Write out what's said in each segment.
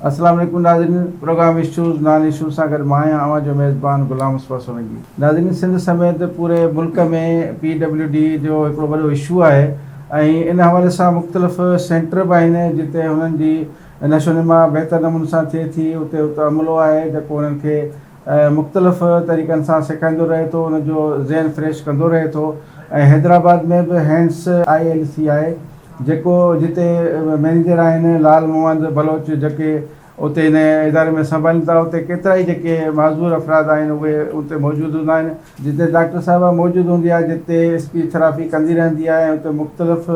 السلام عليڪم ناظرين پروگرام اشوز نان اشوز سان گڏ مان آهيان اوهان جو ميزبان غلام مصطفيٰ سولنگي ناظرين سنڌ سميت پوري ملڪ ۾ پي ڊبليو ڊي جو هڪڙو وڏو اشو آهي ۽ ان حوالي سان مختلف سينٽر به آهن جتي هنن جي نشونما بهتر نموني سان ٿئي ٿي اتي هڪ عملو آهي جيڪو انهن کي مختلف طريقن سان سيکائيندو رهي ٿو انهن جو ذهن فريش ڪندو رهي ٿو ۽ حيدرآباد ۾ به هينس آء ايل سي آهي جيڪو جتي مئنيجر آهن لال محمد بلوچ جيڪي اتي هن اداري ۾ سنڀالين ٿا اتي ڪيترائي جيڪي معذور افراد آهن اهي اتي موجود هوندا آهن. جتي ڊاڪٽر صاحبه موجود هوندي آهي جتي اسپيچ ٿراپي ڪندي رهندي آهي ۽ اتي مختلف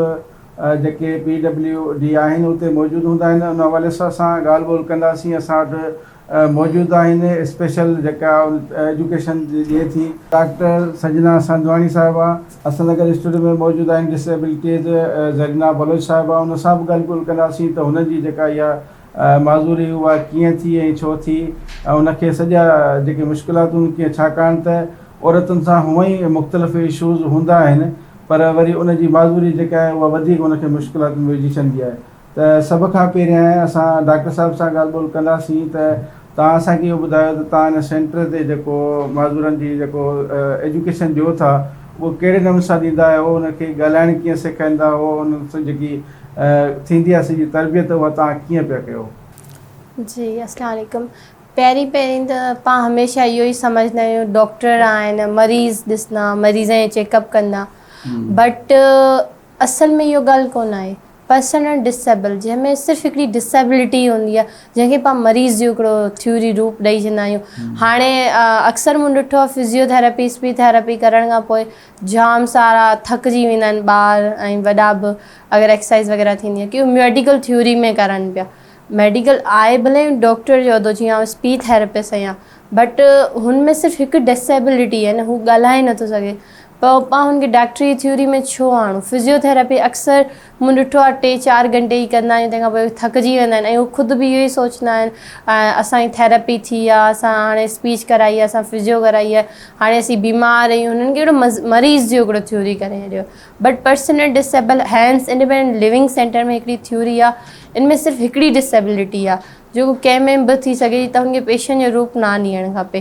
جيڪي پي ڊبليو ڊي آهن اتي موجود هوندا آهن ان حوالي سان اسان ڳالهه ٻولهه ڪنداسين اسان وٽ موجود آهن اسپيشل جيڪا ايجوڪيشن ڏي ٿي. ڊاڪٽر سنجنا سنڌواڻي صاحبه حسن نگر اسٽوڊيو ۾ موجود آهن ڊس ايبلٽيز زرينا بلوچ صاحبه ان سان به ڳالهه ٻولهه ڪنداسين ته هنن جي جيڪا اها معذوري اها ڪيئن ٿي ۽ ڇو ٿي ۽ ان کي سڄا جيڪي مشڪلاتون ڪيئن ڇاڪاڻ ته عورتن سان هونء ئي مختلف ايشوز هوندا آهن پر وري ان جي معذوري جيڪا آهي اها وڌيڪ ان کي مشڪلاتن ۾ وجهي ڇڏندي آهي ته سڀ کان پهريائين اسان ڊاڪٽر صاحب سان ڳالهه ٻولهه ڪنداسين ته توهان اسان کي اهو ٻڌايو ته توهان ان سينٽر تي جيڪو معذورن جي جيڪو ايجوڪيشن ڏيو ٿا اهو ڪهڙي نموني سان ڏيندا آهيو ان کي ڳالهائڻ ڪيئن سيکائيندا اهو انهن سان جيڪي ٿيندي آهي سڄي تربيت اها توهان ڪيئن پيا ڪيو. جي اسلام عليڪم پهرين پهرين ته پان هميشه اهو ئي سمجهندا آهيون ڊاڪٽر آهن مريض ڏسندا مريضن جو چيڪ اپ ڪندا بٽ اصل ۾ اهو ڳالهه ڪونه آهي پرسن ار ڊسيبل جنهن ۾ صرف هڪڙي ڊسيبلٽي هوندي آهي جنهن کي پان مريض جو هڪڙو ٿيوري روپ ڏئي ڇڏندا آهيون هاڻي اڪثر مون ڏٺو آهي فزيو ٿيراپيس به ٿيراپي ڪرڻ کان پوء جام سارا ٿڪجي ويندا آهن ٻار ۽ وڏا به اگر ايڪسرسائز وغيره ٿيندي آهي ڪيون ميڊيڪل ٿيوري ۾ ڪرن پيا ميڊيڪل آهي ڀلي ڊاڪٽر جو عھدو جيئن اسپي ٿيراپسٽ ۽ بٽ هن ۾ صرف هڪ ڊسيبلٽي يعني هو ڳالهائي نٿو سگهي پوء پاڻ هن کي ڊاڪٽري ٿيوري ۾ ڇو آڻو فزيو ٿيراپي اڪثر مون ڏٺو آهي ٽي چار گهنٽي ئي ڪندا آهيون تنهن کان پوء ٿڪجي ويندا آهن ۽ هو خود به اهو ئي سوچندا آهن اسان جي ٿيراپي ٿي آهي اسان هاڻي اسپيچ ڪرائي آهي اسان فزيو ڪرائي آهي هاڻي اسين بيمار آهيون هنن کي هڪڙو مريض جي هڪڙو ٿيوري ڪري ڇڏيو but personal disabled HANDS independent living centre ۾ هڪڙي ٿيوري آهي ان ۾ صرف هڪڙي ڊسيبلٽي آهي جيڪو ڪنهن ۾ به ٿي سگهي ٿي ته هن کي پيشن جو روپ نه نيڻ کپي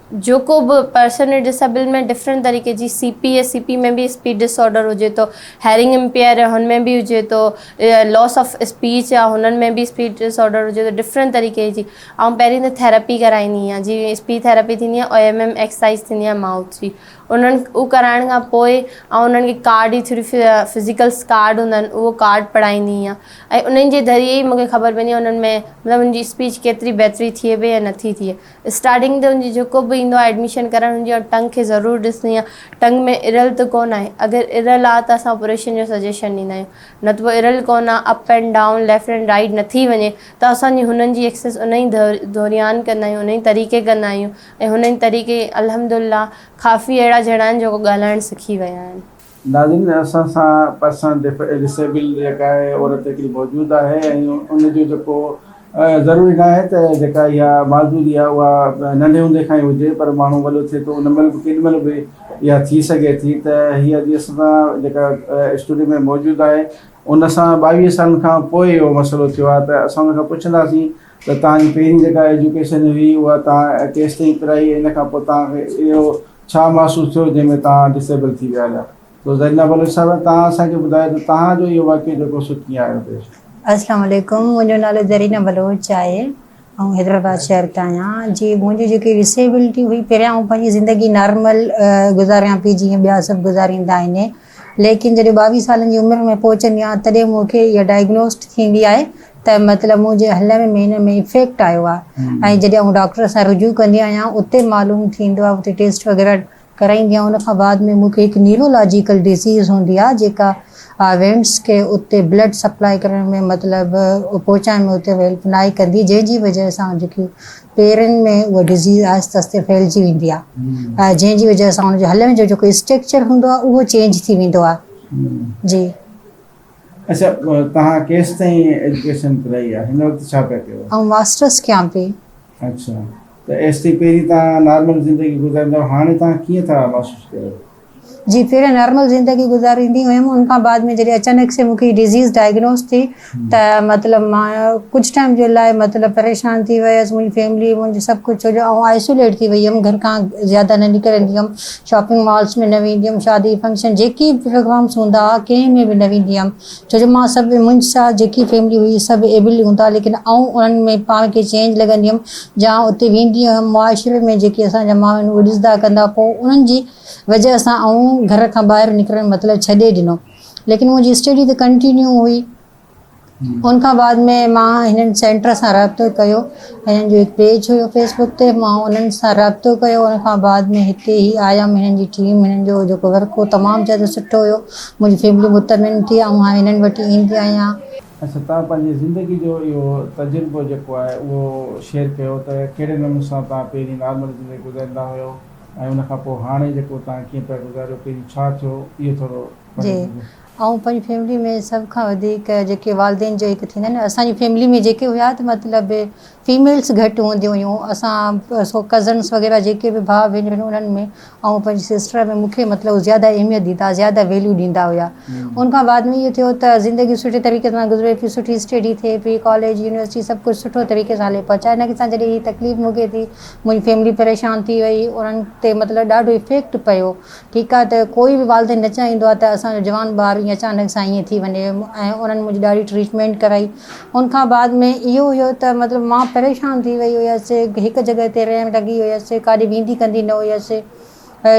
جيڪو به پرسن ڊس ايبل ۾ ڊفرنٽ طريقي جي C P A C P ۾ به اسپيچ ڊس آرڊر هجي ٿو هيرنگ امپيئر هن ۾ به هجي ٿو لوس آف اسپيچ يا هنن ۾ به اسپيچ ڊس آرڊر هجي ٿو ڊفرنٽ طريقي جي آئون پهرين ته ٿيراپي ڪرائيندي آهيان جي اسپيچ ٿيراپي ٿيندي آهي او ايم ايم ايڪسرسائز ٿيندي آهي مائوٿ جي انهن هو ڪرائڻ کان پوء آئون انهن کي ڪارڊ جي ٿرو فزيڪلس ڪارڊ هوندا آهن اهو ڪارڊ پڙهائيندي آهيان ۽ انهن جي ذريعي ئي مونکي خبر پوندي آهي انهن ۾ مطلب انهن جي اسپيچ ڪيتري بهتري ٿئي پئي يا نٿي ٿئي اسٽارٽنگ تي ان جي جيڪو به ايندو آهي ايڊميشن ڪرائڻ ان جي اڳ ٽنگ کي ضرور ڏسڻي آهي ٽنگ ۾ ارل ته ڪونه آهي اگر ارل آهي ته اسان آپريشن جو سجيشن ڏيندا آهيون نه ته پوء ارل ڪونه آهي up and down left and right نٿي وڃي ته اسان جي هنن جي ايڪسس ان ئي دوريان ڪندا آهيون ان ئي طريقي ڪندا آهيون ۽ هن ئي طريقي الحمدالله ڪافي اهڙا جهڙا آهن جيڪو ڳالهائڻ سکي ويا آهن. ناظرين اسان سان پرسن ڊسيبل جيڪا آهي عورت هڪڙي موجود آهي ۽ ان جو جيڪو ضروري ناهي ته جيڪا اها معذوري آهي اها ننڍي هوندي کان ئي هجي پر ماڻهو وڏو ٿئي ٿو ان مهل به ڪيڏي مهل به اها ٿي سگهي ٿي ته هي اڄ اسان سان جيڪا اسٽوڊيو ۾ موجود آهي ان سان ٻاويهه سالن کان پوء اهو مسئلو ٿيو آهي ته اسان ان کان پڇنداسين ته توهان جي پهرين جيڪا ايجوڪيشن هئي اها توهان ڪيستائين پرائي ۽ ان کان پوء توهان کي اهو ڇا محسوس ٿيو جنهن ۾ توهان ڊسيبل ٿي ويا هيا؟ سو زرينه بلوچ صاحبه توهان اسان کي ٻڌايو ته توهان جو اهو واقعو جيڪو سو ڪيئن آيو پيش؟ السلام عليڪم منهنجو نالو زرينه بلوچ آهي آئون حيدرآباد شهر تان آهيان جي منهنجي جيڪي ڊسيبلٽي هئي پهريان آئون پنهنجي زندگي نارمل گذاريان پئي جيئن ٻيا سڀ گذاريندا آهن ليڪن جڏهن ٻاويهه سالن جي عمر ۾ پهچندي آهيان تڏهن مون کي اها ڊائگنوسٽ ٿيندي آهي ته مطلب منهنجي هلڻ ۾ مينن ۾ افيڪٽ آيو آهي ۽ جڏهن آئون ڊاڪٽر سان رجوع ڪندي آهيان اتي معلوم ٿيندو آهي اتي ٽيسٽ وغيره ڪرائيندي آهيان ان کان بعد ۾ مون کي هڪ نيورولاجيڪل ڊزيز هوندي آهي جيڪا وينس کي اتي بلڊ سپلاء ڪرڻ ۾ مطلب پهچائڻ ۾ اتي هيلپ ناهي ڪندي جنهن جي وجهه سان جيڪي پيرن ۾ اها ڊزيز آهستي آهستي ڦهلجي ويندي آهي جنهن جي وجه سان ان جو هلڻ جو جيڪو اسٽريڪچر هوندو آهي اهو چينج ٿي ويندو آهي جي. اڇا توهان ڪيستائين ايجوڪيشن ڪرائي آهي هن وقت ڇا پيا ڪيو؟ آئون ماسٽرس ڪيان پئي. اڇا ته ايستائين پهرين توهان نارمل زندگي گذاريندا هئا هاڻي توهان ڪيئن ٿا محسوس ڪريو؟ جي پھرين نارمل زندگي گذاريندي ھيم ان کان بعد ۾ جڏھن اچانڪ سي مون کي ڊزيز ڊائگنوز ٿي ته مطلب مان ڪجھ ٽائيم جي لاء مطلب پريشان ٿي ويس منھنجي فيملي منھنجو سڀ ڪجھ ڇو جو آئون آئسوليٽ ٿي وئي ھيم گھر کان زياده نه نڪرندي ھيم شاپنگ مالس ۾ نه ويندي ھيم شادي فنڪشن جيڪي به پروگرامس ھوندا ھا ڪنھن ۾ به نه ويندي ھيم ڇو جو مان سڀ منهنج سا جيڪي فيملي هئي سڀ ايبل هوندا ليڪن آئون انهن ۾ پاڻ کي چينج لڳندي هيم جان اتي ويندي هيم معاشري ۾ جيڪي اسان جا ماڻهو آهن اهي ڏسندا ڪندا پوء انهن جي وجه سان آئون گهر کان ٻاهر نڪرڻ مطلب ڇڏي ڏنو ليڪن منهنجي اسٽيڊي ته ڪنٽينيو هئي ان کان بعد ۾ مان هنن سينٽر سان رابطو ڪيو هنن جو هڪ پيج هيو فيس بڪ تي مان انهن سان رابطو ڪيو ان کان بعد ۾ هتي هي آيم هنن جي ٽيم هنن جو جيڪو ورڪ هو تمام زياده سٺو هيو منهنجي فيملي مطمئن ٿي آئون هاڻي هنن وٽ ئي ايندي آهيان. اچا توهان پنهنجي زندگي جو اهو تجربو جيڪو آهي اهو شيئر ڪيو ته ڪهڙي نموني سان توهان پهرين نارمل زندگي گذاريندا هيو ۽ ان کان پوء هاڻي جيڪو توهان ڪيئن پيا گذاريو پهرين ڇا ٿيو اهو ٿورو جي آئون پنهنجي فيملي ۾ سڀ کان وڌيڪ جيڪي والدين جو هڪ ٿيندا آهن اسان جي فيملي ۾ جيڪي هيا ته مطلب فيميلس گهٽ هونديون هيون اسان سو ڪزنس وغيره جيڪي به ڀاء ڀينرون هيون انهن ۾ آئون پنهنجي سسٽر ۾ مون کي مطلب زياده اهميت ڏيندا زياده ويليو ڏيندا هيا ان کان بعد ۾ اهو ٿيو ته زندگي سٺي طريقي سان گذري پئي سٺي اسٽيڊي ٿئي پئي ڪاليج يونيورسٽي سڀ ڪجهه سٺو طريقي سان هلي پئي اچانڪ سان جڏهن هي تڪليف مون کي ٿي منهنجي فيملي پريشان ٿي وئي انهن تي مطلب ڏاڍو افيڪٽ پيو ٺيڪ آهي ته ڪوئي به والدين نه چاهيندو آهي ته اسان جو جوان ٻار ايئن اچانڪ سان ايئن ٿي وڃي ۽ انهن منهنجي ڏاڍي ٽريٽمينٽ ڪرائي ان کان بعد ۾ اهو هيو ته مطلب مان پريشان ٿي وئي هيس هڪ جڳهه تي رهڻ لڳي هيس ڪاڏي ويندي ڪندي نه هيس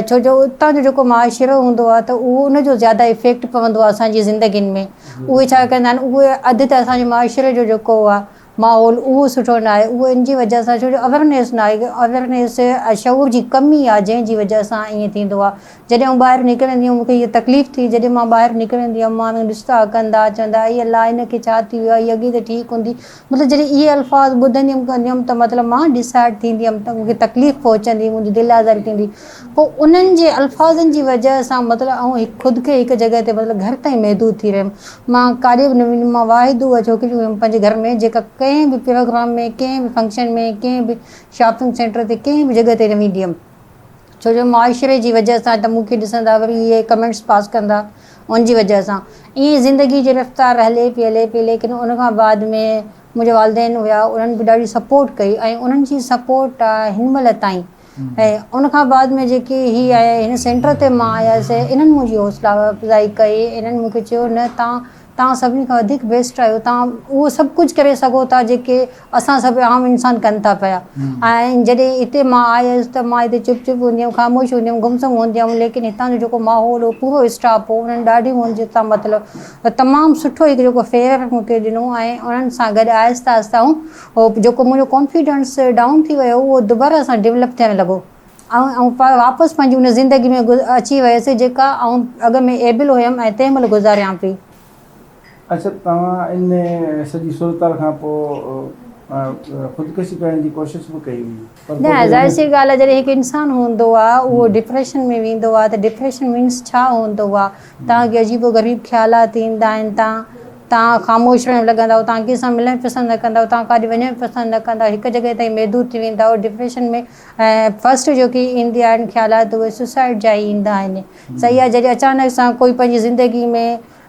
ڇو جو اتان جو جيڪو معاشرو هوندو آهي ته اهو ان جو زياده افيڪٽ پوندو آهي اسان جي زندگين ۾ اهي ڇا ڪندا آهن اهي اڌ ته اسان جي معاشري جو جيڪو آهي ماحول اهو سٺو ناهي اهو ان جي وجه سان ڇو جو اويرنيس ناهي اويرنيس ۽ شعور جي ڪمي آهي جنهن جي وجه سان ائين ٿيندو آهي جڏهن آئون ٻاهر نڪرندي هيم مونکي هيء تڪليف ٿي جڏهن مان ٻاهر نڪرندي هيم ماڻهو ڏسندا ڪندا چوندا اي الله هن کي ڇا ٿي ويو آهي هيء اڳي ته ٺيڪ هوندي مطلب جڏهن اهي الفاظ ٻڌندي هيم ڪندي هيم ته مطلب مان ڊسائيڊ ٿيندي هيم ته مونکي تڪليف پهچندي منهنجي دل آزاري ٿيندي پوء انهن جي الفاظن جي وجه سان مطلب آئون خود کي هڪ جڳهه تي مطلب گهر تائين محدود ٿي رهيم. مان ڪاڏي به نه ويندم. مان واحد اها ڇوڪري هيم پنهنجي گهر ۾ جيڪا ڪنهن به پروگرام ۾ ڪنهن به فنڪشن ۾ ڪنهن به شاپنگ سينٽر تي ڪنهن به جڳهه تي نه ويندي هيم ڇو جو معاشري جي وجه سان ته مون کي ڏسندا وري اهي ڪمينٽس پاس ڪندا ان جي وجه سان ائين زندگي جي رفتار هلي پئي هلي پئي ليڪن ان کان بعد ۾ منهنجا والدين هيا انهن به ڏاڍي سپورٽ ڪئي ۽ انهن جي سپورٽ هن مهل تائين ۽ ان کان بعد ۾ جيڪي هي آيا هن سينٽر تي مان آيس انهن منهنجي حوصلا افزائي ڪئي انهن مون کي چيو نه تان تان سڀني کان وڌيڪ بيسٽ آهيو تان اهو سڀ ڪجهه ڪري سگهو ٿا جيڪي اسان سڀ عام انسان ڪن ٿا پيا ۽ جڏهن هتي مان آيس ته مان هتي چپ چپ هوندي هيم خاموش هوندي هيم گم سم هوندي هيم ليڪن هتان جو جيڪو ماحول هو پورو اسٽاف هو انهن ڏاڍي منهنجي تان مطلب تمام سٺو هڪ جيڪو فيئر مون کي ڏنو ۽ انهن سان گڏ آهستي آهستي آئون هو جيڪو منهنجو ڪانفيڊنس ڊائون ٿي ويو هو اهو دوباره سان ڊولپ ٿيڻ لڳو ۽ آئون واپس پنهنجي ان زندگي ۾ اچي ويس جيڪا آئون اڳ ۾ ايبل هيم ۽ تنهن مهل گذاريان پئي. اچا توهان ان سڄي صورتحال کان پوء خودڪشي ڪرڻ جي ڪوشش به ڪئي هئي؟ نه ظاهر سي ڳالهه آهي جڏهن هڪ انسان هوندو آهي اهو ڊپريشن ۾ ويندو آهي ته ڊپريشن مينس ڇا هوندو آهي توهان کي عجيب و غريب خيالات ايندا آهن توهان توهان خاموش رهڻ لڳندؤ توهان ڪنهن سان ملڻ پسند نه ڪندؤ توهان ڪاڏي وڃڻ پسند نه ڪندؤ هڪ جڳهه تائين محدود ٿي ويندؤ ڊپريشن ۾ فرسٽ جيڪي ايندي آهن خيالات اهي سوسائيڊ جا ئي ايندا آهن سيئي آهي جڏهن اچانڪ سان ڪوئي پنهنجي زندگي ۾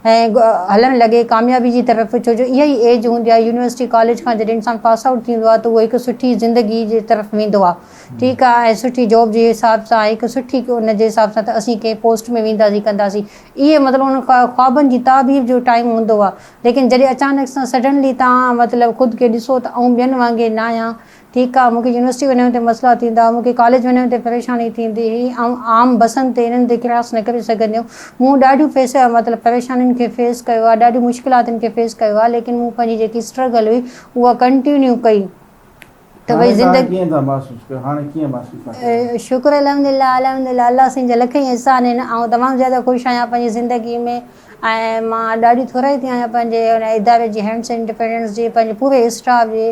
۽ هلڻ لڳي ڪاميابي جي طرف ڇو جو اها ئي ايج هوندي آهي يونيورسٽي ڪاليج کان جڏهن انسان پاس آئوٽ ٿيندو آهي ته اهو هڪ سٺي زندگي جي طرف ويندو آهي ٺيڪ آهي ۽ سٺي جاب جي حساب سان هڪ سٺي ان جي حساب سان ته اسين ڪنهن پوسٽ ۾ وينداسين ڪنداسين اهي مطلب ان خوابن جي تعبير جو ٽائيم هوندو آهي ليڪن جڏهن اچانڪ سان سڊنلي توهان مطلب خود کي ڏسو ته آئون ٻين وانگي ناهيان ٺيڪ آ، مون کي يونيورسٽي وڃڻ تي مسئلا ٿيندا، مون کي ڪاليج وڃڻ تي پريشاني ٿيندي هئي، آئون عام بسن تي انهن تي ڪراس نه ڪري سگهندي هيم. مون ڏاڍيون فيس مطلب پريشانين کي فيس ڪيو آ، ڏاڍيون مشڪلاتن کي فيس ڪيو آ، ليڪن مون پنهنجي جيڪي اسٽرگل هئي اها ڪنٽينيو ڪئي ته ڀئي زندگي. هاڻي توهان ڪيئن ٿا محسوس ڪيو؟ هاڻي ڪيئن محسوس ٿا ڪيو؟ شڪر الحمدلله الحمدلله الله سائين جا لک احسان آهن، آئون تمام زياده خوش آهيان پنهنجي زندگي ۾. ۽ مان ڏاڍي ٿورائي ٿي آهيان پنهنجي ان اداري جي هينڊس اينڊ ڊفينس جي پنهنجي پوري اسٽاف جي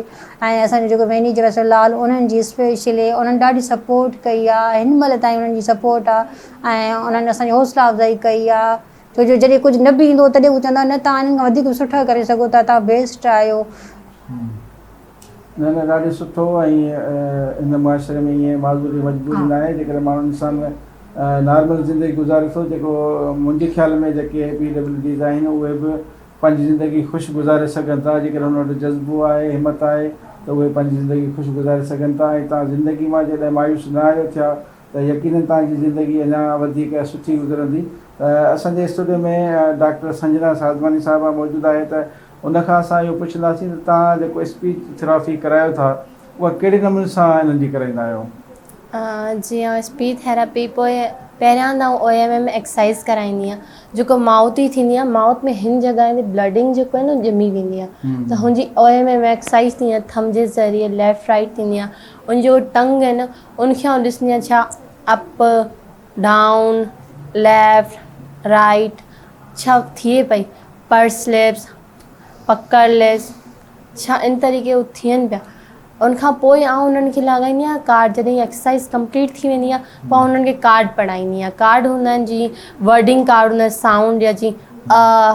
۽ اسان جو جيڪو مئنيجر اسد لال انهن جي اسپيشلي انهن ڏاڍي سپورٽ ڪئي آهي هن مهل تائين انهن جي سپورٽ آهي ۽ انهن اسان جي حوصلا افزائي ڪئي آهي ڇو جو جڏهن ڪجهه نه به ايندو هو تڏهن هو چوندا هئا نه توهان هنن کان وڌيڪ به سٺا ڪري سگهو ٿا توهان بيسٽ آهيو. نه نه ڏاڍي سٺو ۽ هن معاشري ۾ ايئن معذوري مجبوري ناهي جيڪڏهن ماڻهو انسان نارمل زندگي گذاري ٿو جيڪو منهنجي خيال ۾ جيڪي پي ڊبليو ڊيز آهن اهي به پنهنجي زندگي خوش گذاري سگهن ٿا جيڪڏهن هن وٽ جذبو آهي همت آهي ته اهي پنهنجي زندگي خوش گذاري سگهن ٿا ۽ تان زندگي مان جڏهن مايوس نه آهيو ٿيا ته يقينن تان جي زندگي اڃا وڌيڪ سٺي گذرندي ته اسان جي اسٽوڊيو ۾ ڊاڪٽر سنجنا سازماني صاحبه موجود آهي ته ان کان اسان اهو پڇنداسين ته توهان جيڪو اسپيچ ٿراپي ڪرايو ٿا اها ڪهڙي نموني سان انهن جي ڪرائيندا آهيو؟ جيئن اسپيچ ٿراپي پوء پهريان ته آئون او ايم ايم ايڪسرسائز ڪرائيندي آهيان جيڪو مائوٿ جي ٿيندي آهي مائوٿ ۾ هن جڳهين تي بلڊنگ جيڪو آهي نه ڄمي ويندي آهي ته هن جي او ايم ايم ايڪسرسائز ٿيندي آهي ٿم جي ذريعي ليفٽ رائٽ ٿيندي آهي ان جو ٽنگ آهي نه ان کي آئون ڏسندي آهيان ڇا اپ ڊائون، ليفٽ، رائيٽ ڇا ٿئي پئي، پر سليپس، پڪڙ ليس ڇا ان طريقي هو ٿين پيا ان کان پوء آئون انهن کي لاڳائيندي آهيان ڪارڊ جڏهن هي ايڪسرسائز ڪمپليٽ ٿي ويندي آهي پوء آئون انهن کي ڪارڊ پڙهائيندي آهيان ڪارڊ هوندا آهن جيئن ورڊنگ ڪارڊ هوندا آهن سائونڊ جا جيئن ا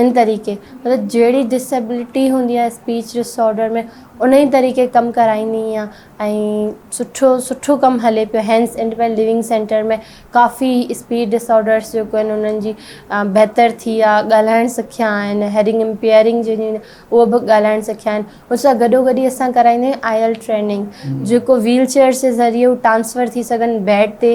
ان طريقي مطلب جهڙي ڊسيبلٽي هوندي آهي اسپيچ ڊسآرڊر ۾ ان ئي طريقي ڪم ڪرائيندي آهيان ۽ سٺو سٺو ڪم هلي پيو هينس انڊيپينڊ لوونگ سينٽر ۾ ڪافي اسپيچ ڊسآرڊرس جيڪو آهن انهن جي بهتر ٿي آهي ڳالهائڻ سکيا آهن هيرنگ امپيئرنگ جنهن جي اهو به ڳالهائڻ سکيا آهن ان سان گڏو گڏ ئي اسان ڪرائيندا آهيون آئي ايل ٽريننگ جيڪو ويل چيئرس جي ذريعي هو ٽرانسفر ٿي سگهن بيڊ تي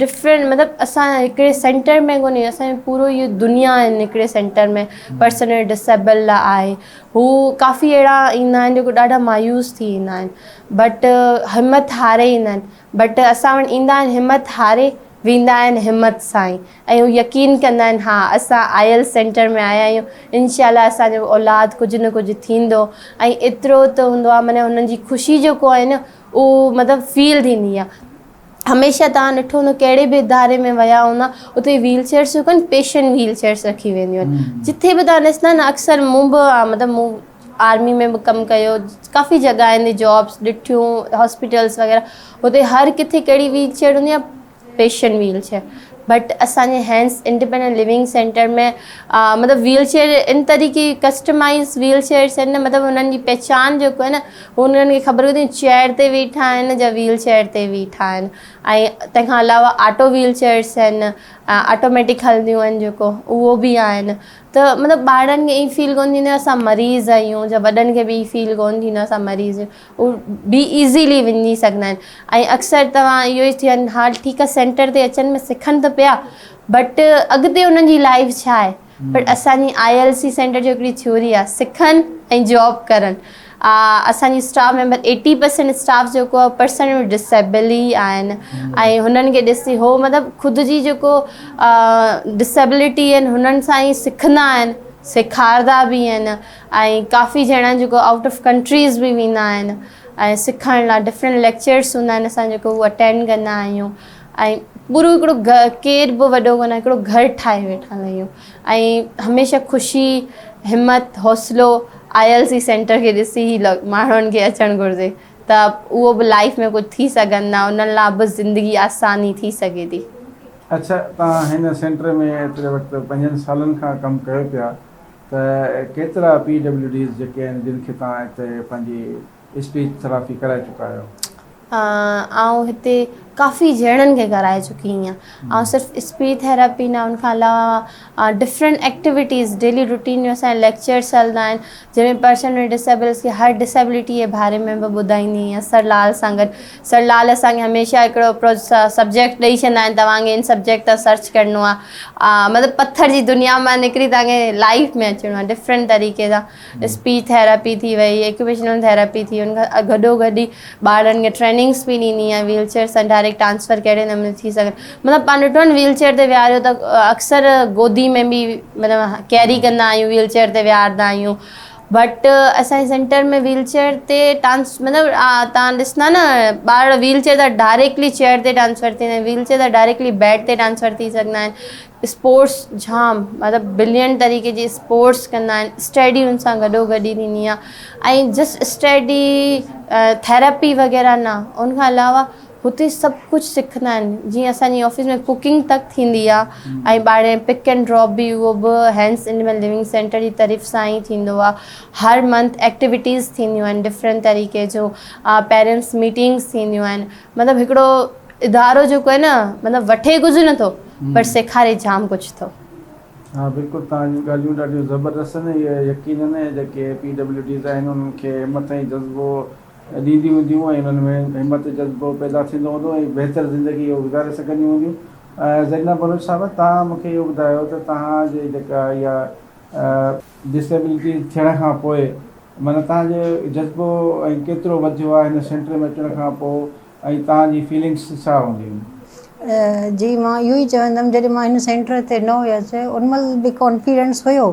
ڊفرنٽ مطلب اسان هڪڙي سينٽر ۾ ڪونهي اسان جو پورو اهو دنيا آهن هڪڙي سينٽر ۾ پرسنل ڊسيبل لا آهي هو ڪافي اهڙا ايندا آهن جيڪو ڏاڍا مايوس ٿي ويندا آهن بٽ همٿ هاري ايندا آهن بٽ اسان وٽ ايندا آهن همٿ هاري ويندا آهن همٿ سان ئي ۽ هو يقين ڪندا آهن ها اسان آيل سينٽر ۾ آيا آهيون انشاء الله اسان جو اولاد ڪجهه نه ڪجهه ٿيندو ۽ ايترو ته هوندو آهي معنيٰ هنن جي خوشي جيڪو آهي نه اهو مطلب فيل ٿيندي آهي هميشه توهان ڏٺو هوندو ڪهڙي به اداري ۾ ويا هوندا اتي ويل چيئرس جو ڪن پيشنٽ ويل چيئرس رکي وينديون آهن جتي به توهان ڏسندا نه اڪثر مون به مطلب مون آرمي ۾ به ڪم ڪيو ڪافي جڳهين تي جابس ڏٺيون هاسپيٽلس وغيره هتي هر ڪٿي ڪهڙي ويل چيئر هوندي آهي پيشنٽ ويل چيئر بٽ اسانجي هينس انڊيپينڈنٽ لوينگ سينٽر ۾ مطلب ويل چيئر ان طريقي ڪسٽمائز ويل چيئرس آهن مطلب هنن جي پهچان جيڪو آهي نه انهن کي خبر هوندي چيئر تي ويٺا آهن جا ويل چيئر تي ويٺا آهن ۽ تنهن کان علاوه آٽو ويل چيئرس آهن آٽوميٽڪ هلنديون آهن جيڪو اهو به آهن ته مطلب ٻارڙن کي ائين فيل ڪونه ٿيندو اسان مريض آهيون جا وڏن کي به ائين فيل ڪونه ٿيندو اسان مريض آهيون هو بي ايزيلي وڃي سگهندا آهن ۽ اڪثر توهان اهو ئي ٿين ها ٺيڪ آهي سينٽر تي اچن سکن ته پيا بٽ اڳتي انهن جي لائف ڇا آهي پر اسان جي ILC سينٽر جو هڪڙي ٿيوري آهي سکن ۽ جاب ڪرن اسان جي staff member eighty percent staff جيڪو آهي پرسن ود ڊسيبل ئي آهن ۽ هنن کي ڏسي هو مطلب خود جي جيڪو ڊسيبلٽي آهن هنن سان ئي سکندا آهن سيکارندا به آهن ۽ ڪافي ڄڻا جيڪو آئوٽ آف ڪنٽريز به ويندا آهن ۽ سکڻ لاء ڊفرنٽ ليڪچرس هوندا آهن اسان جيڪو هو اٽينڊ ڪندا آهيون ۽ پورو هڪڙو ڪير به وڏو ڪونه هڪڙو گهر ٺاهي ويٺا آهيون ۽ هميشه خوشي همت حوصلو آء ايل سي سينٽر کي ڏسي هي ماڻهن کي اچڻ گهرجي ته اهو به لائيف ۾ ڪجهه ٿي سگهن ها انهن لاء به زندگي آساني ٿي سگهي ٿي. اڇا توهان هن سينٽر ۾ ايتري وقت پنجن سالن کان ڪم ڪيو پيا ته ڪيترا پي ڊبليو ڊيز جيڪي آهن جن کي توهان هتي پنهنجي اسٽيج ٿراپي ڪرائي چڪا آهيو؟ آئون هتي ڪافي جهيڙن کي ڪرائي چڪي آهيان آئون صرف اسپيچ ٿراپي نه ان کان علاوه ڊفرنٽ ايڪٽيوٽيز ڊيلي روٽين جو اسان جا ليڪچرس هلندا آهن جنهن ۾ پرسن ود ڊسيبلس کي هر ڊسيبلٽي جي باري ۾ به ٻڌائيندي آهيان سر لال سان گڏ سر لال اسان کي هميشه هڪڙو سبجيڪٽ ڏئي ڇڏيندا آهن توهان کي ان سبجيڪٽ تان سرچ ڪرڻو آهي مطلب پٿر جي دنيا مان نڪري توهان کي لائف ۾ اچڻو آهي ڊفرنٽ طريقي سان اسپيچ ٿيراپي ٿي وئي، اڪيوپيشنل ٿيراپي ٿي، ان کان گڏو گڏ ئي ٻارڙن کي ٽريننگس به ڏني ۽ ويل چيئر سان ڊائريڪٽ ٽرانسفر ڪهڙي نموني ٿي سگهي مطلب پاڻ ڏٺو آهي ويل چيئر تي ويهاريو ته اڪثر گودي ۾ به مطلب ڪيري ڪندا آهيون ويل چيئر تي ويهاردا آهيون بٽ اسانجي سينٽر ۾ ويل چيئر تي ٽرانس مطلب تان ڏسندا نه ٻارڙا ويل چيئر تان ڊائريڪٽلي چيئر تي ٽرانسفر ٿيندا آهن ويل چيئر تان ڊائريڪٽلي بيڊ تي ٽرانسفر ٿي سگهندا آهن اسپورٽس جام مطلب بلينٽ طريقي جي اسپورٽس ڪندا آهن اسٽيڊي ان سان گڏو گڏ ئي ٿيندي آهي ۽ جسٽ اسٽيڊي ٿيراپي وغيره نه ان کان علاوه هتي سڀ ڪجهه سکندا آهن جيئن اسانجي آفيس ۾ ڪوڪنگ تڪ ٿيندي آهي ۽ ٻاهرين پڪ اينڊ ڊراپ به اهو به هينس انيمل ليونگ سينٽر جي طرف سان ئي ٿيندو آهي هر منٿ ايڪٽيويٽيز ٿينديون آهن ڊفرنٽ طريقي جون پيرنٽس ميٽنگس ٿينديون آهن مطلب هڪڙو ادارو جيڪو آهي نه مطلب وٺي ڪجهه نٿو پر سيکاري جام ڪجهه ٿو. ها بلڪل توهان جون ڳالهيون ڏاڍيون زبردست آهن اهي يقينن جيڪي پي ڊبليو ڊيز آهن انهن کي همت ۽ جذبو ڏينديون هونديون ۽ انهن ۾ همت جذبو پيدا ٿيندو هوندو ۽ بهتر زندگي اهي گذاري سگهنديون هونديون زرينه بلوچ صاحبه توهان مونکي اهو ٻڌايو ته توهان جي جيڪا اها ڊسيبلٽي ٿيڻ کان پوء معنيٰ توهان جو جذبو ۽ ڪيترو وڌيو آهي هن سينٽر ۾ اچڻ کان پوء ۽ توهان جي فيلنگس ڇا هونديون؟ جي مان اهو ئي چوندم جڏهن مان هن سينٽر تي نه هيس ان مهل به ڪانفيڊنس هيو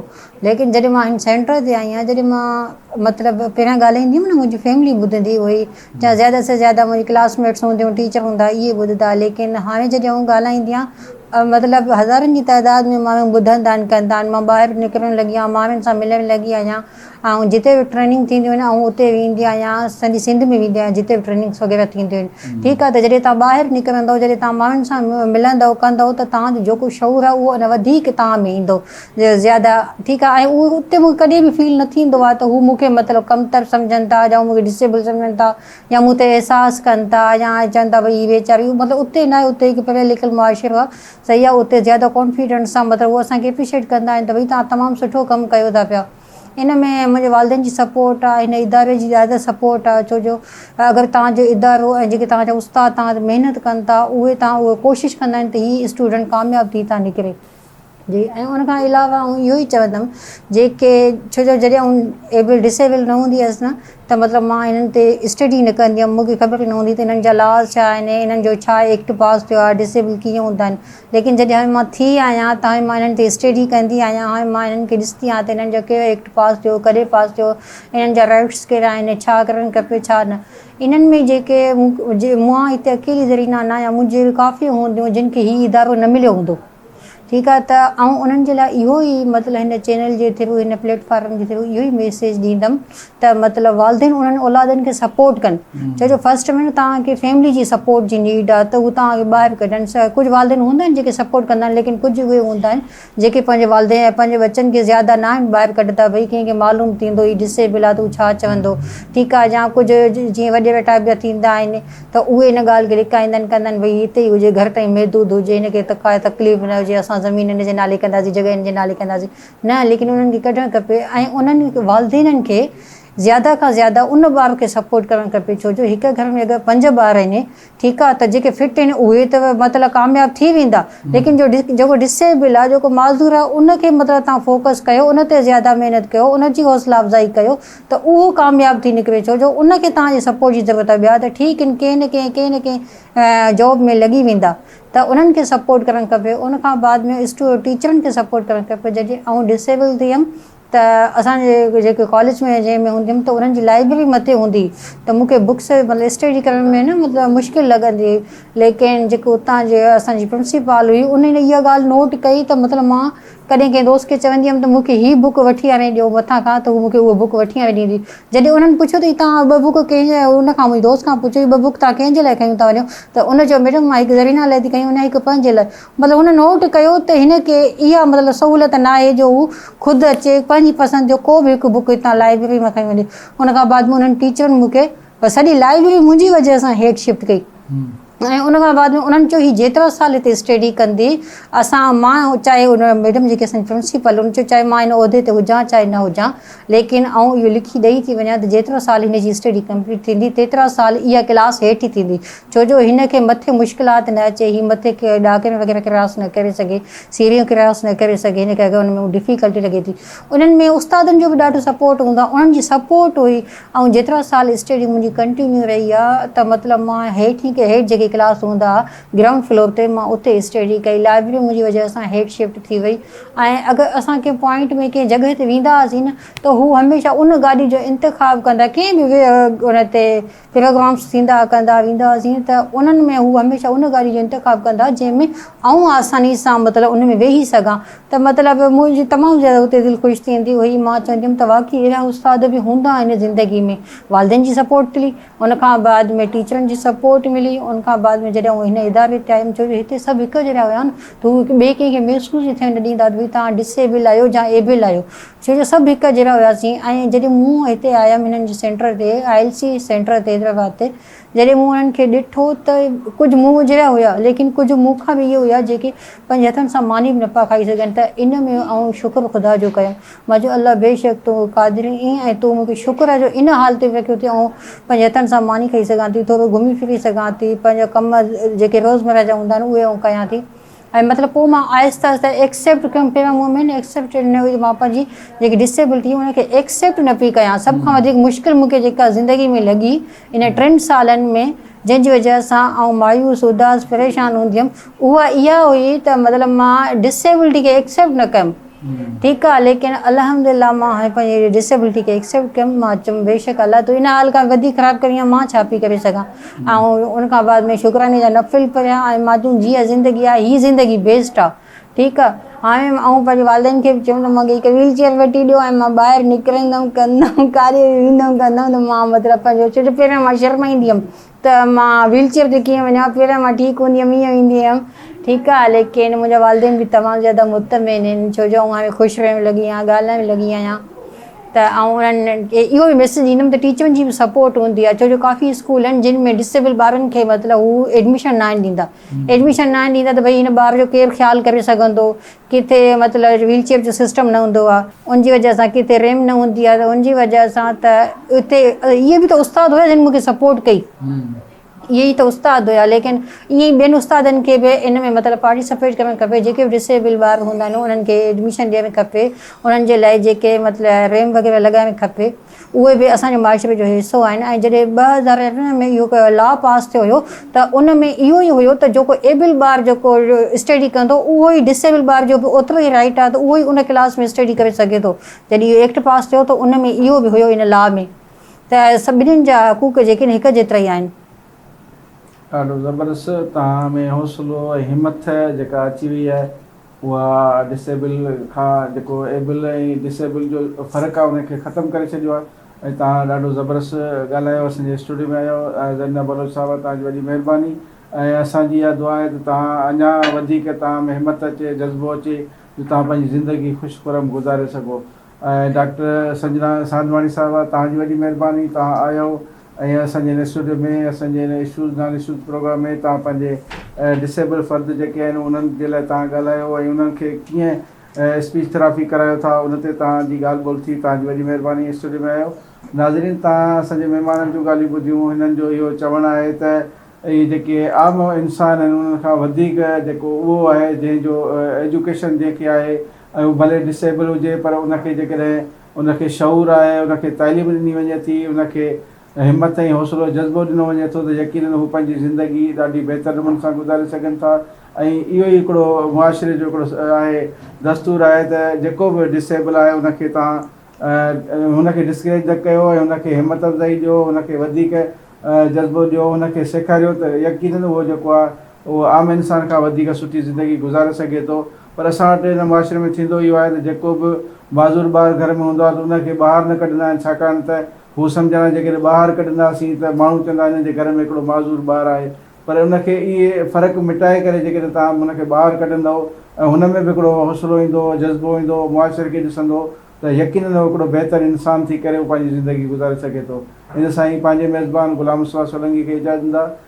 ليڪن جڏهن مان هن سينٽر تي آئي آهيان جڏهن مان مطلب پهريان ڳالهائيندي هيم نه منهنجي فيملي ٻڌندي هئي يا زياده سي زياده منهنجي ڪلاس ميٽس هونديون ٽيچر هوندا اهي ٻڌندا ليڪن هاڻي جڏهن آئون ڳالهائيندي آهيان مطلب هزارن جي تعداد ۾ ماڻهو ٻڌندا آهن ڪندا آهن مان ٻاهر نڪرڻ لڳي آهيان ماڻهن سان ملڻ لڳي آهيان آئون جتي به ٽريننگ ٿينديون آهن آئون اتي ويندي آهيان سڄي سنڌ ۾ ويندي آهيان جتي به ٽريننگس وغيره ٿينديون آهن ٺيڪ آهي ته جڏهن تان ٻاهر نڪرندو جڏهن تان ماڻهن سان ملندو ڪندو ته تان جو جيڪو شعور آهي اهو اڃا وڌيڪ تان ۾ ايندو زياده ٺيڪ آهي ۽ اهو اتي مون کي ڪڏهن به فيل نه ٿيندو آهي ته هو مون کي مطلب ڪمتر سمجهن ٿا يا مون کي ڊسيبل سمجهن ٿا يا مون تي احساس ڪن ٿا يا چون ٿا ڀئي هي ويچاري مطلب اتي نه آهي اتي هڪ پڙهيل لکيل معاشرو آهي صحيح آ اتي زياده ڪانفيڊنٽ سان مطلب هو اسان کي اپريشيٽ ڪندا آهن ته ڀئي توهان تمام سٺو ڪم ڪيو ٿا پيا ان ۾ منهنجي والدين جي سپورٽ آ هن اداري جي زياده سپورٽ آ ڇو جو اگر توهان جو ادارو ۽ جيڪي توهان جا استاد توهان تي محنت ڪن ٿا اهي توهان اهي ڪوشش ڪندا آهن ته هي اسٽوڊنٽ ڪامياب ٿي ٿا نڪري. جي ۽ ان کان علاوه آئون اهو ئي چوندم جيڪي ڇو جو جڏهن آئون ايبل ڊس ايبل نه هوندي هيس نه ته مطلب مان انهن تي اسٽڊي نه ڪندي هيم مون کي خبر ئي نه هوندي ته انهن جا لاز ڇا آهن ۽ انهن جو ڇا ايڪٽ پاس ٿيو آهي ڊسيبل ڪيئن هوندا آهن ليڪن جڏهن هاڻي مان ٿي آهيان ته هاڻي مان انهن تي اسٽڊي ڪندي آهيان هاڻي مان انهن کي ڏسندي آهيان ته انهن جو ڪهڙو ايڪٽ پاس ٿيو ڪڏهن پاس ٿيو انهن جا رائٽس ڪهڙا آهن ڇا ڪرڻ کپي ڇا نه انهن ۾ جيڪي مان هتي اڪيلي زرينه نه آهيان منهنجي اهڙيون ڪافي هونديون جن کي هي ادارو نه مليو هوندو ٺيڪ آهي ته آئون انهن جي لاء اهو ئي مطلب هن چينل جي ٿرو هن پليٽ فارم جي ٿرو اهو ئي ميسيج ڏيندم ته مطلب والدين انهن اولادن کي سپورٽ ڪن ڇو جو فرسٽ ۾ توهان کي فيملي جي سپورٽ جي نيڊ آهي ته هو توهان کي ٻاهر ڪڍن ڪجهه والدين هوندا آهن جيڪي سپورٽ ڪندا آهن ليڪن ڪجهه اهي هوندا آهن جيڪي پنهنجي والدين ۽ پنهنجي ٻچن کي زياده نه آهن ٻاهر ڪڍندا ڀئي ڪنهن کي معلوم ٿيندو هي ڊسيبل آهي ته هو ڇا چوندو ٺيڪ آهي يا ڪجهه جيئن وڏي ويٺا ٿيندا آهن ته اهي ان ڳالهه کي لڪائيندن ڪندن ڀئي هتي ئي هجي، گهر تائين محدود هجي، هن کي ڪا تڪليف نه هجي، اسان زمين هن جي نالي ڪنداسين، جڳهه هن جي نالي ڪنداسين، نه ليڪن انهن کي ڪڍڻ کپي ۽ انهن والدينن کي زياده کان زياده ان ٻار کي سپورٽ ڪرڻ کپي ڇو جو هڪ گهر ۾ اگر پنج ٻار آهن ٺيڪ آ ته جيڪي فٽ آهن اهي ته مطلب ڪامياب ٿي ويندا ليڪن جو جيڪو ڊسيبل آ جيڪو معذور آ ان کي مطلب تهان فوڪس ڪيو ان تي زياده محنت ڪيو ان جي حوصلا افزائي ڪيو ته اهو ڪامياب ٿي نڪري ڇو جو ان کي توهان جي سپورٽ جي ضرورت آهي ٻيا ته ٺيڪ ان ڪنهن نه ڪنهن ڪنهن نه ڪنهن جاب ۾ لڳي ويندا ته انهن کي سپورٽ ڪرڻ کپي ان کان بعد ۾ اسٽو ٽيچرن کي سپورٽ ڪرڻ کپي جڏهن آئون ڊسيبل ٿي ويم ته اسان جي جيڪي ڪاليج ۾ جنهن ۾ هوندي هيم ته انهن جي لائبرري مٿي هوندي ته مون کي بڪس مطلب اسٽڊي ڪرڻ ۾ نه مطلب مشڪل لڳندي هئي ليڪن جيڪو اتان جي اسان جي پرنسپال هئي ان اها ڳالهه نوٽ ڪئي ته مطلب مان ڪڏهن ڪنهن دوست کي چوندي هيم ته مون کي هي بوڪ وٺي آڻي ڏيو مٿان کان ته هو مون کي اهو بوڪ وٺي آڻي ڏيندي. جڏهن انهن پڇيو ته هي توهان ٻه بوڪ ڪنهن جي لاء ۽ ان کان منهنجي دوست کان پڇيو هي ٻه بوڪ توهان ڪنهن جي لاء کيون ٿا وڃو ته ان چيو ميڊم مان هڪ زرينه لاء ٿي کيون ۽ هڪ پنهنجي لاء مطلب هن نوٽ ڪيو ته هن کي اها مطلب سهولت ناهي جو هو خود اچي پنهنجي پسند جو ڪو به هڪ بوڪ هتان لائبرري مان کڻي وڃي ان کان بعد ۾ انهن ٽيچرن مون کي سڄي لائبرري منهنجي وجهه سان هيڊ شفٽ ڪئي. ۽ ان کان بعد ۾ انهن چيو هي جيترا سال هتي اسٽيڊي ڪندي اسان مان چاهي ان ميڊم جيڪي اسان جي پرنسپل ان چيو چاهي مان هن عهدي تي هجان چاهي نه هجان ليڪن آئون اهو لکي ڏئي ٿي وڃان ته جيترا سال هن جي اسٽيڊي ڪمپليٽ ٿيندي تيترا سال اها ڪلاس هيٺ ئي ٿيندي ڇو جو هن کي مٿي مشڪلات نه اچي هي مٿي ڏاڪڻيون وغيره ڪراس نه ڪري سگهي سيڙهيون ڪراس نه ڪري سگهي هن کي اگر ان ۾ ڊفيڪلٽي لڳي ٿي انهن ۾ استادن جو به ڏاڍو سپورٽ هوندو آهي انهن جي سپورٽ هئي ائين جيترا سال اسٽڊي منهنجي ڪنٽينيو رهي آ ته مطلب مان هيٺين کي هيٺ جيڪي ڪلاس هوندا ها گرائونڊ فلور تي مان اتي اسٽڊي ڪئي لائبرري منهنجي وجهه سان هيٺ شفٽ ٿي وئي ۽ اگر اسان ڪنهن پوائنٽ ۾ ڪنهن جڳهه تي ويندا هئاسين نه ته هو هميشه ان گاڏي جو انتخاب ڪندا ڪنهن به ان تي پروگرامس ٿيندا ها ڪندا ويندا هئاسين ته انهن ۾ هو هميشه ان گاڏي جو انتخاب ڪندا جنهن ۾ آئون آساني سان مطلب ان ۾ ويهي سگهان ته مطلب منهنجي تمام زياده اتي دل خوش ٿيندي هئي مان چوندي هيم ته واقعي اهڙا استاد به هوندا آهن زندگي ۾ والدين جي سپورٽ ملي ان کان بعد ۾ ٽيچرن جي سپورٽ ملي ان کان بعد ۾ جڏهن هن اداري ٽائيم ٿيو جو هتي سڀ هڪ جهڙا هيا نه ته هو هڪ ٻئي ڪنهن کي محسوس ئي ٿيڻ نه ڏيندا ته ڀئي توهان ڊس ايبل آهيو جا ايبل آهيو ڇو جو سڀ هڪ جهڙا هياسين ۽ جڏهن مون هتي آيم هنن جي سينٽر تي آء ايل سي سينٽر تي حيدرآباد تي جڏهن مون انهن کي ڏٺو ته ڪجهه مون جهڙا هيا ليڪن ڪجهه مون کان به اهي هيا جيڪي پنهنجي هٿن سان ماني به نه پيا کائي سگهن ته ان ۾ آئون شڪر خدا جو ڪيم مان چيو الله بيشڪ تون قادر ائين ۽ تون مون کي شڪر جو ان حال تي به رکيو ٿي آئون پنهنجي هٿن سان ماني کائي سگهان ٿي ٿورو گهمي ڦري سگهان ٿي پنهنجا ڪم جيڪي روزمره جا هوندا آهن اهي آئون ڪيان ٿي ۽ مطلب پوء مان آهستي آهستي ايڪسيپٽ ڪيم پي مان مون مين ايڪسيپٽيڊ نه هئي مان پنهنجي جيڪي ڊسيبلٽي ان کي ايڪسيپٽ نه پي ڪيان سڀ کان وڌيڪ مشڪل مون کي جيڪا زندگي ۾ لڳي ان ٽن سالن ۾ جنهن جي وجهه سان آئون مايوس اداس پريشان هوندي هيم اها اها هئي ته مطلب مان ڊسيبلٽي کي ايڪسيپٽ نه ڪيم ٺيڪ آ ليڪن الحمدلله مان هاڻي پنهنجي اهڙي ڊسيبلٽي کي ايڪسيپٽ ڪيم مان چيم بيشڪ الله تون ان حال کان وڌيڪ خراب ڪرين ها مان ڇا پي ڪري سگهان ۽ ان کان بعد ۾ شڪراني جا نفل پڙهيا ۽ مان چيم جي اها زندگي آهي هي زندگي بيسٽ آ ٺيڪ آ هاڻي آئون پنهنجي والدين کي به چيم ته مونکي هڪ ويل چيئر وٺي ڏيو ۽ مان ٻاهر نڪرندم ڪندم ڪاري ويندم ڪندم ته مان مطلب پنهنجو ڇو جو پهريان مان شرمائيندي هيم ته مان ويل چيئر تي ڪيئن وڃان پهريان مان ٺيڪ هوندي هيم ايئن ويندي هيم ٺيڪ آهي ليڪن منهنجا والدين به تمام زياده مطمئن آهن ڇو جو آئون هاڻي خوش رهڻ لڳي آهيان ڳالهائڻ لڳي آهيان ته آئون انهن کي اهو به ميسيج ڏيندم ته ٽيچرن جي به سپورٽ هوندي آهي ڇو جو ڪافي اسڪول آهن جن ۾ ڊسيبل ٻارن کي مطلب هو ايڊميشن ناهن ڏيندا ايڊميشن ناهن ڏيندا ته ڀئي هن ٻار جو ڪير خيال ڪري سگهندو ڪٿي مطلب ويل چيئر جو سسٽم نه هوندو آهي ان جي وجه سان ڪٿي ريمپ نه هوندي آهي ته ان جي وجه سان ته اتي اهي به ته استاد هيا جن مونکي سپورٽ ڪئي اهي ئي ته استاد هيا ليڪن ايئن ئي ٻين استادن کي به ان ۾ مطلب پارٽيسپيٽ ڪرڻ کپي جيڪي به ڊسيبل ٻار هوندا آهن انهن کي ايڊميشن ڏيڻ کپي انهن جي لاء جيڪي مطلب ريمپ وغيره لڳائڻ کپي اهي به اسان جي معاشري جو حصو آهن ۽ جڏهن ٻه هزار ارڙهن ۾ اهو لا پاس ٿيو هيو ته ان ۾ اهو ئي هيو ته جيڪو ايبل ٻار جيڪو اسٽيڊي ڪندو اهو ئي ڊس ايبل ٻار جو به اوترو ئي رائيٽ آهي ته اهو ئي ان ڪلاس ۾ اسٽيڊي ڪري سگهي ٿو جڏهن اهو ايڪٽ پاس ٿيو ته ان ۾ اهو به هيو ان لا ۾ ته سڀني جا حقوق جيڪي آهن هڪ جيترا ئي آهن. ڏاڍو زبردست توهان ۾ حوصلو ۽ همٿ جيڪا اچي وئي آهي اها Disable کان جيڪو Able ۽ Disable جو فرق آهي ان کي ختم ڪري ڇڏيو آهي ۽ توهان ڏاڍو زبرست ڳالهايو اسان جي اسٽوڊيو ۾ آيو زرينه بلوچ صاحبه توهان جي وڏي مهرباني ۽ اسان جي اها دعا آهي ته توهان اڃا وڌيڪ توهان ۾ همت اچي جذبو اچي جو توهان پنهنجي زندگي خوش خرم گذاري سگهو ۽ ڊاڪٽر سنجنا ساندواڻي صاحبه توهان جي وڏي مهرباني توهان آيو ۽ اسان جي هن اسٽوڊيو ۾ اسان جي هن اشوز نان اشوز پروگرام ۾ توهان پنهنجي ڊسيبل فرد جيڪي آهن انهن جي لاء توهان ڳالهايو ۽ انهن کي ڪيئن اسپيچ ٿراپي ڪرايو ٿا ان تي توهان جي ڳالهه ٻولهه ٿي توهان جي وڏي مهرباني اسٽوڊيو ۾ آيو ناظرين توهان اسان جي مهمانن جون ڳالهيون ٻڌيون هنن جو اهو چوڻ آهي ته اهي جيڪي عام انسان آهن انهن کان وڌيڪ جيڪو اهو آهي جنهن جو ايجوڪيشن جنهن کي آهي ۽ هو ڀلي ڊس ايبل هجي پر ان کي جيڪڏهن ان کي شعور آهي، ان کي تعليم ڏني وڃي ٿي، ان کي همت ۽ حوصلو جذبو ڏنو وڃي ٿو ته يقينن هو پنهنجي زندگي ڏاڍي بهتر نموني سان گذاري سگهن ٿا ۽ اهو ئي هڪڙو معاشري جو هڪڙو آهي دستور آهي ته جيڪو به ڊس ايبل آهي ان کي توهان هن کي ڊسڪريج نه ڪيو ۽ هن کي همت افزائي ڏيو هن کي وڌيڪ جذبو ڏيو هن کي سيکاريو ته يقينن هو جيڪو آهي هو عام انسان کان وڌيڪ سٺي زندگي گذاري سگهي ٿو پر اسان وٽ هن معاشري ۾ ٿيندو اهو آهي ته جيڪو به معذور ٻار گهر ۾ هوندو آهي ته ان کي ٻاهر نه ڪڍندا آهن ڇاڪاڻ ته هو سمجهندا آهن جيڪڏهن ٻاهر ڪڍنداسين ته ماڻهو چوندا هنن جي گهر ۾ هڪڙو معذور ٻار آهي پر ان کي اهي فرق مٽائي ڪري جيڪڏهن توهان هن کي ٻاهر ڪڍندؤ ۽ هن ۾ به هڪڙو حوصلو ايندو جذبو ايندو معاشري کي ڏسندو ته يقينن هو هڪڙو بهتر انسان ٿي ڪري هو پنهنجي زندگي گذاري سگهي ٿو ان سان ئي پنهنجي ميزبان غلام مصطفيٰ سولنگي کي اجازت ڏيندا.